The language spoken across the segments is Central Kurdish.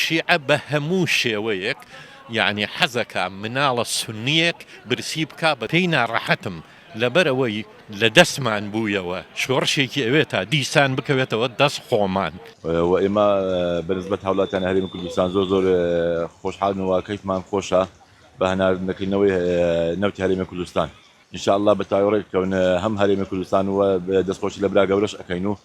شیعە بە هەموو شێوەیەک یانی حەزەکا مناڵە سونیەک برسی بکا بە پێی ناڕەحەتم لەبەر ئەوەی لە دەستمان بوویەوە شۆڕشێکی ئەوێ تا دیسان بکەوێتەوە دەست خۆمان. وە ئێمە بە نسبەت هاوڵاتیانی هەرێمی کوردستان زۆر زۆر خۆشحالین و کەیفمان خۆشە بە هەناردنەکردنەوەی نەوتی هەرێمی کوردستان ان شاء اللە بە تاوێڕێ کەون هەم هەرێمی کوردستان و دەستخۆشی لە برا گەورەش ئەکەین و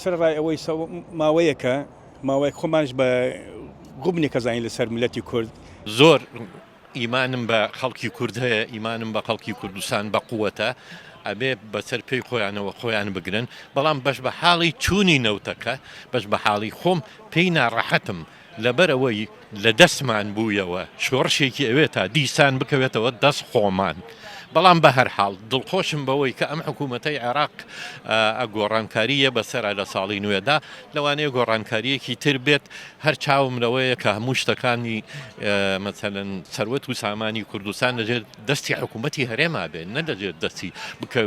سەرەڕای ئەوەی ماوەیەکە ماوەیەک خۆمانش بە غوبنێک کەزانین لەسەر ملەتی کورد. زۆر ئیمانم بە خەڵکی کورد هەیە ئیمانم بە خەڵکی کوردستان بە قوەتە ئەبێ بەسەر پێی خۆیانەوە خۆیان بگرن بەڵام بەش بە حاڵی چوونی نەوتەکە بەش بە حاڵی خۆم پێی ناڕەحەتم لەبەرئەوەی لە دەستمان بوویەوە شۆڕشێکی ئەوێ تا دیسان بکەوێتەوە دەست خۆمان. بەڵام بەهەرحاڵ دڵخۆشم بەوەی کە ئەم حکوومەتەی عێراق ە گۆڕانکاری یە بەسەرا لە ساڵی نوێدا لەوانەیە گۆڕانکارییەکی تر بێت هەر چاوم لەوەیە کە هەموو شتەکانی مەسەلەن سەروەت و سامانی کوردستان لە ژێر دەستی حکوومەتی هەرێما بێت نە لە ژێر دەستی بکە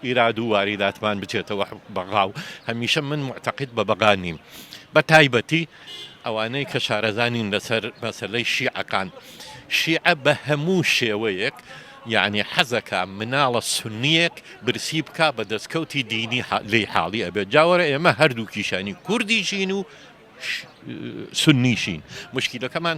ئیراد و واریداتمان بچێتەوە بەغا و هەمیشە من معتەقید بە بەغا نیم. بە تایبەتی ئەوانەی کە شارەزا نین لەسەر مەسەلەی شیعەکان، شیعە بە هەموو شێوەیەک یانی حەزەکا مناڵە سوننییەک برسی بکا بە دەسکەوتی دینی لێی حاڵی ئەبێت، جا وەرە ئێمە هەردووکیشانی کوردیشین و سوننیشین موشکیلەکەمان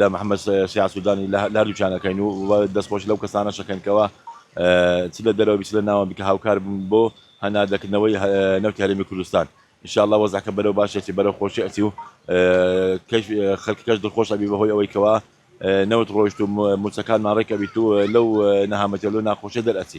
لە محمد شیاع سودانی لە هەردووکیان ئەکەین و دەستخۆشی لەو کەسانەش ئەکەین کەوا چ لە دەرەوە بی چ لە ناوە بی کە هاوکار بوون بۆ هەناردەکردنەوەی نەوتی هەرێمی کوردستان ان شاء اللە وەزعەکە بەرەو باش ئەچی بەرەو خۆشی ئەچی و خەلکەکەش دڵخۆش ئەبی بەهۆی ئەوەی کەوا نەوت ڕۆیشت و موچەکانمان ڕێک ئەبیت و لەو نەهامەتی و لەو ناخۆشیە دەرئەچی.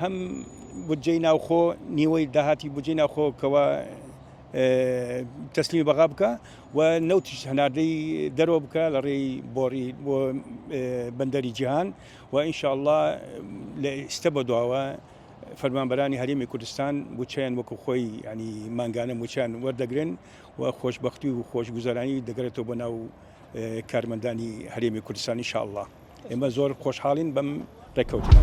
هەم بودجەی ناوخۆ نیوەی داهاتی بودجەی ناوخۆ کەوا تەسلیمی بەغا بکە و نەوتیش هەناردەی دەرەوە بکە لە ڕێی بۆڕی بۆ بەندەری جیهان و ئینشاءله لە ئێستە بە دواوە فەرمانبەرانی هەرێمی کوردستان بچیان وەکو خۆی ینی مانگانە موچیان وەردەگرن و خۆشببختی و خۆشگوزارانی دەگرێتەوە بۆ ناو کارمەندانی هەرێمی کوردستانی شاءله. ئێمە زۆر خۆشحاڵین بەم ڕێککەوتنە.